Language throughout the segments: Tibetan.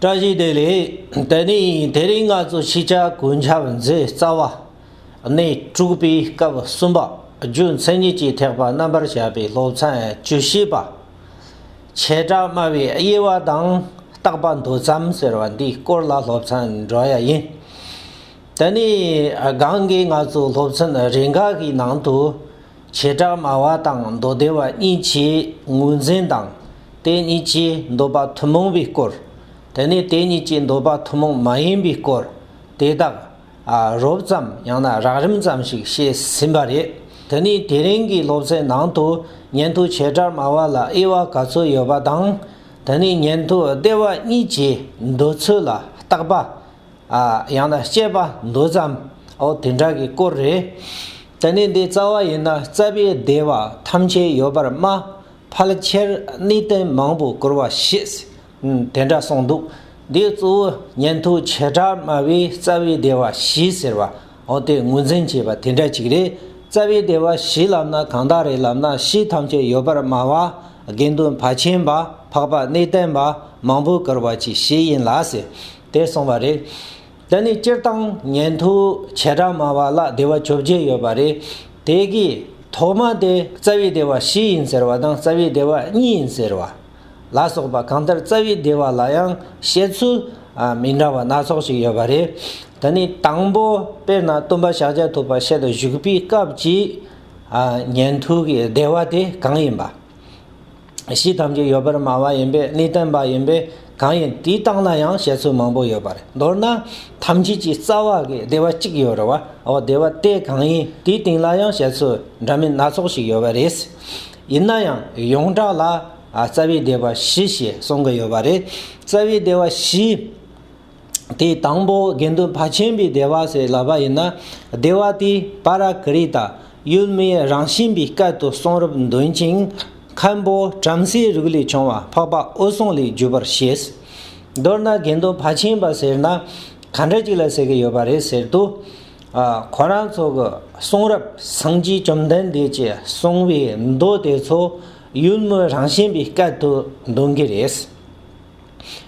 བཀྲ་ཤིས་བདེ་ལེགས། དེ་ནས་དེ་རིང་ང་ཚོ་ཕྱི་ཆར་གུས་འཆམ་མཛད་རྩ་བ། གནས་དྲུག་པའི་སྐབས་གསུམ་པ་རྒྱུ་མཚན་ཉིད་ཀྱི་ཐེག་པ་རྣམ་པར་བཤད་པའི་སློབ་ཚན་བཅུ་བཞི་པ། བྱེ་བྲག་སྨྲ་བའི་དབྱེ་བ་དང་རྟག་པ་མདོ་ཙམ་ཟེར་བ་འདིའི་སྐོར་ལ་སློབ་ཚན་འགྲོ་ཡ་ཡིན། དེ་ནས་སྒང་གི་ང་ཚོའི་སློབ་ཚན་རེ་འགའ་ཞིག་ནང་དུ། བྱེ་བྲག་སྨྲ་བ་དང་མདོ་སྡེ་བ་གཉིས་ཀྱིས་ངོས་འཛིན་དང། དེ་གཉིས་ཀྱིས་འདོད་པ་ཐུན་མོང་བའི་སྐོར། དེ་ནས་དེ་གཉིས་ཀྱིས་འདོད་པ་ཐུན་མོང་མ་ཡིན་པའི་སྐོར། དེ་དག་རོབ་ཙམ་ཡང་ན་རགས་རིམ་ཙམ་ཞིག་བཤད་ཟིན་པ་རེད། དེ་ནི་དེ་རིང་གི་སློབ་ཚན་ནང་དུ་ཉན་ཐོས་བྱེ་བྲག་སྨྲ་བ་ལ་དབྱེ་བ་ག་ཚོད་ཡོད་པ་དང། དེ་ནི་ཉན་ཐོས་སྡེ་བ་གཉིས་ཀྱི་འདོད་ཚུལ་ལ་བརྟག་པ། ཡང་ན་སྐྱེས་པ་འདོད་ཙམ། འོ་དེ་འདྲ་གི་སྐོར་རེད། ད་ནི་འདི་རྩ་བ་ཡིན་ན་རྩ་བའི་བདེ་བ་ཐམས་ཅད་ཡོད་པར་སྨྲ། ཕལ་ཆེར་གནས་བརྟན་མང་པོ་བཀུར་བ་ཞེས་དེ་འདྲ་གསུངས་འདུག་འདིའི་གཙོ་བོ་ཉན་ཐོས་བྱེ་བྲག་སྨྲ་བས་རྩ་བའི་བདེ་བ་བཞི་ཟེར་བ་འོ་དེ་ངོས་འཛིན་བྱས་པ་དེ་འདྲ་ཅིག་རེད། རྩ་བའི་བདེ་བ་བཞི་ལབ་ན་གང་དག་རེད་ལབ་ན་བཞི་ཐམས་ཅད་ཡོད་པར་སྨྲ་བ། དགེ་འདུན་བར་ཆེན་པ་འཕགས་པ་གནས་བརྟན་པ་མང་པོ་བཀུར་བ་གྱི་གཞི་ཡིན་ལགས། དེར་སོང་བ་རེད། དེ་ནི་སྤྱིར་བཏང་ཉན་ཐོས་བྱེ་བྲག་མ་བ་ལ་བདེ་བ་བཅོ་བརྒྱད་ཡོད་པ་རེད། དེ་གའི་ཐོག་མ་དེ་རྩ་བའི་བདེ་བ་བཞི་ཡིན་ཟེར་བ་དང་རྩ་བའི་བདེ་བ་གཉིས་ཡིན་ཟེར་བ་ལ་སོགས་པ་གང་ལྟར་རྩ་བའི་བདེ་བ་ལ་ཡང་བཤད་ཚུལ་མི་འདྲ་བ་སྣ་ཚོགས་ཤིག་ཡོད་པ་རེད། དེ་ནི་དང་པོ་དཔེར་ན་སྟོན་པ་ཤཱཀྱ་ཐུབ་པ་ཤེལ་དུ་བཞུགས་པའི་སྐབས་ཀྱི་ཉན་ཐོས་ཀྱི་བདེ་བ་དེ་གང་ཡིན་པ། གཞི་ཐམས་ཅད་ཡོད་པར་སྨྲ་བ་ཡིན་པས་ནི་བསྟན་པ་ཡིན་པས་གང་ཡིན་དེའི་རྟགས་ན་ཡང་བཤད་ཚུལ་མང་པོ་ཡོད་པ་རེད་མདོར་ན་ཐམས་ཅད་ཀྱི་རྩ་བ་གི་བདེ་བ་གཅིག་ཡོད་རེད་བ་འོ་བདེ་བ་དེ་གང་ཡིན་དེའི་སྟེང་ལ་ཡང་བཤད་ཚུལ་འདྲ་མིན་སྣ་ཚོགས་ཞིག་ཡོད་པ་རེད། ཡིན་ན་ཡང་ཡོངས་གྲགས་ལ་རྩ་བའི་བདེ་བ་བཞི་ཞེས་གསུང་གི་ཡོད་པ་རེད་རྩ་བའི་བདེ་བ་བཞི། དེའི་དང་པོ་དགེ་འདུན་ཕ་ཆེན་པོའི་བདེ་བ་ཞེས་ལབ་པ་ཡིན་ན་བདེ་བ་དེ་པ་ར་ཀི་རི་ཏཱ་ཡུལ་མིའི་རང་བཞིན་པའི་སྐད་དུ་གསུང་རབ་འདོན་ཅིང་མཁན་པོ་བྲམ་ཟེའི་རིགས་ལས་བྱུང་བ་འཕགས་པ་འོད་སྲུང་ལས་བརྒྱུད་པར་བཞེད། མདོར་ན་དགེ་འདུན་ཕ་ཆེན་པ་ཟེར་ན་ག་འདྲ་ཅིག་ལ་ཟེར་གྱི་ཡོད་པ་རེད་ཟེར་དུས། ཁོ་རང་ཚོ་གི་གསུང་རབ་སངས་རྒྱས་བཅོམ་ལྡན་འདས་ཀྱིས་གསུང་བའི་མདོ་དེ་ཚོ་ཡུལ་མིའི་རང་བཞིན་པའི་སྐད་དུ་འདོན་གྱི་རེད།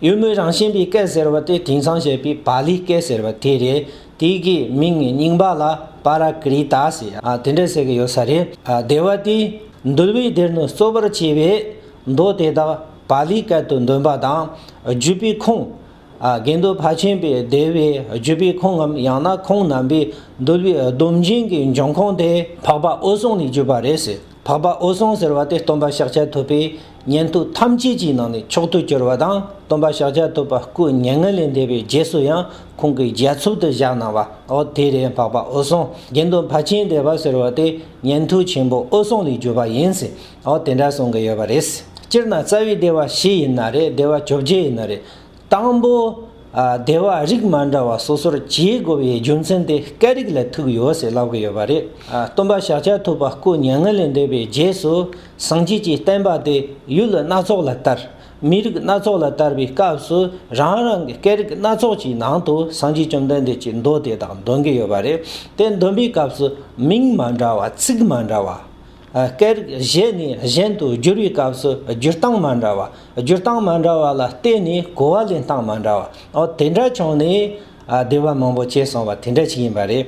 གཡུལ་མོའི་རང་བཞིན་པའི་སྐད་ཟེར་བ་དེ་དེང་སང་བཤད་པའི་པཱ་ལིའི་སྐད་ཟེར་བ་དེ་རེད། དེ་གའི་མིང་ངའི་རྙིང་པ་ལ་པཱ་ར་ཀི་རི་ཏཱ་ཟེར། དེ་འདྲ་ཟེར་གྱི་ཡོད་ས་རེད། སྡེ་བ་དེའི་འདུལ་བའི་སྡེར་ནི་གཙོ་བར་བྱས་པའི་མདོ་དེ་དག་པཱ་ལིའི་སྐད་དུ་འདོན་པ་དང་བརྒྱུད་པའི་ཁུངས། དགེ་འདུན་ཕ་ཆེན་པའི་སྡེ་བའི་བརྒྱུད་པའི་ཁུངས་ངམ་ཡང་ན་ཁོང་རྣམ་པའི་འདུལ་བའི་སྡོམ་རྒྱུན་གྱི་འབྱུང་ཁུངས་དེ་འཕགས་པ་འོད་སྲུང་ནས་བརྒྱུད་པ་རེད་ཟེར། འཕགས་པ་འོད་སྲུང་ཟེར་བ་དེ་སྟོན་པ་ཤཱཀྱ་ཐུབ་པའི་ཉན་ཐོས་ཐམས་ཅད་ཀྱི་ནང་ནས་མཆོག་ཏུ་གྱུར་པ་དང་སྟོན་པ་ཤཱཀྱ་ཐུབ་པ་སྐུ་བརྙན་ལྔ་ལས་འདས་པའི་རྗེས་སུ་ཡང་ཁོང་གི་རྒྱ་མཚོ་དུ་བཞག་གནང་བ་ཨོ་དེ་རེད་འཕགས་པ་འོད་སྲུང་དགེ་འདུན་ཕ་ཆེན་སྡེ་པ་ཟེར་བ་དེ་ཉན་ཐོས་ཆེན་པོ་འོད་སྲུང་ལས་བརྒྱུད་པ་ཡིན་ཟེར་ཨོ་དེ་འདྲ་གསུང་གི་ཡོད་པ་རེད་སྤྱིར་ན་རྩ་བའི་སྡེ་བ་བཞི་ཡིན་ན་རེད་སྡེ་བ་བཅོ་བརྒྱད་ཡིན་ན་རེད། དང་པོ། སྡེ་བ་རིགས་མ་འདྲ་བ་སོ་སོར་འབྱེད་དགོས་པའི་རྒྱུ་མཚན་དེ་སྐད་རིགས་ལ་ཐུག་ཡོད་ཟེར་ལབ་ཀི་ཡོད་པ་རེད། སྟོན་པ་ཞག་བཅད་ཐུབ་པ་སྐུ་མྱ་ངན་ལས་འདས་པའི་རྗེས་སུ་སངས་རྒྱས་ཀྱི་བསྟན་པ་དེ་ཡུལ་སྣ་ཚོགས་ལ་དར། མི་རིགས་སྣ་ཚོགས་ལ་དར་བའི་སྐབས་སུ་རང་རང་གི་སྐད་རིགས་སྣ་ཚོགས་ཀྱི་ནང་དུ་སངས་རྒྱས་བཅོམ་ལྡན་འདས་ཀྱི་མདོ་དེ་དག་འདོན་གི་ཡོད་པ་རེད། དེ་འདོན་པའི་སྐབས་སུ་མིང་མ་འདྲ་བ་ཚིག་མ་འདྲ་བ། སྐད་རིགས་གཞན་ནས་གཞན་དུ་བསྒྱུར་བའི་སྐབས་སུ་སྒྱུར་སྟངས་མ་འདྲ་བ། སྒྱུར་སྟངས་མ་འདྲ་བ་ལ་བརྟེན་ནས་གོ་བ་ལེན་སྟངས་མ་འདྲ་བ། དེ་འདྲ་བྱུང་ནས་བདེ་བ་མང་པོ་སྐྱེས་སོང་བ་དེ་འདྲ་ཞིག་ཡིན་པ་རེད།